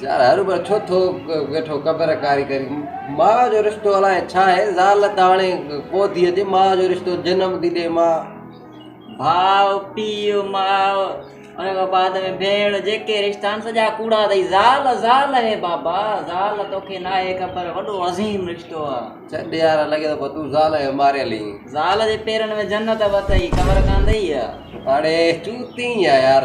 زال، هر عمر ڇو ٿو ويٺو قبر ڪاري ڪرين. ماء جو رشتو الاء ڇا آهي، زال ته هاڻي ڪو ٿي اچي، ماء جو رشتو جنم ٿي ڏئي ماء. ڀاء، پيء، ماء، ان کان بعد ۾ ڀيڻ، جيڪي رشتا آهن سڄا ڪوڙا اٿئي. زال، زال اهي بابا، زال توکي ناهي خبر، وڏو عظيم رشتو آ. ڇڏ يار، لڳي ٿو پوء تون زال کي ماريل هين. زال جي پيرن ۾ جنت به اٿئي، خبر ڪانه اٿئي اها. هاڻي چوتين يا يار.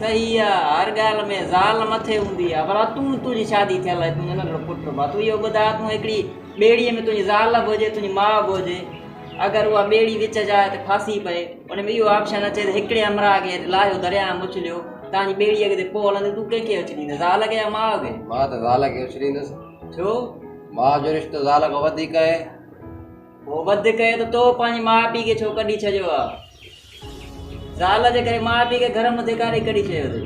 صحيح آ هر ڳالهه ۾ زال مٿي هوندي آ ڀلا تون تنهنجي شادي ٿيل آهي تنهنجو ننڍڙو پٽ به آ تون اهو ٻڌاء تون هڪڙي ٻيڙي ۾ تنهنجي زال به هجي تنهنجي ماء به هجي اگر اها ٻيڙي وچ جاء تي ڦاسي پئي ان ۾ اهو آپشن اچي ته هڪڙي همراهه کي لاهيو درياء ۾ اڇليو تنهنجي ٻيڙي اڳتي پوء هلندي تون ڪنهن کي اڇليندين زال کي يا ماء کي مان ته زال کي اڇليندس ڇو ماء جو رشتو زال کان وڌيڪ آهي هو وڌ ڪيو ته تو پنهنجي ماء پيء کي ڇو ڪڍي ڇڏيو آ؟ زال جي ڪري ماء پيء کي گهر مان ڌڪاري ڪڍي ڇڏيو اٿئي.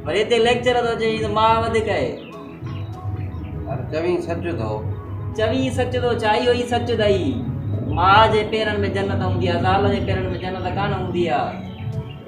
وري هتي ليڪچر ٿو چئين ته ماء وڌ ڪئي. پر چوين سچ ٿو. چوين سچ ٿو ڇا اهو ئي سچ اٿئي. ماء جي پيرن ۾ جنت هوندي آ زال جي پيرن ۾ جنت ڪانه هوندي آ.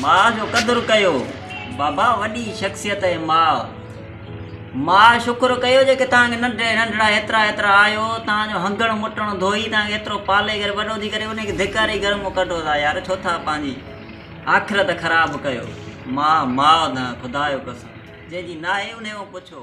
ماء جو قدر ڪيو بابا وڏي شخصيت اهي ماء ماء شڪر ڪيو جيڪي تان کي ننڍي ننڍڙا هيترا هيترا آيو تان جو هنگڻ مٽڻ ڌوئي تان کي هيترو پالي ڪري وڏو ٿي ڪري ان کي ڌڪاري گهر مون ڪڍو ٿا يار ڇو ٿا پنهنجي آخرت خراب ڪيو ماء ماء نه خدا جو قسم جنهن جي ناهي انهي کان پڇو.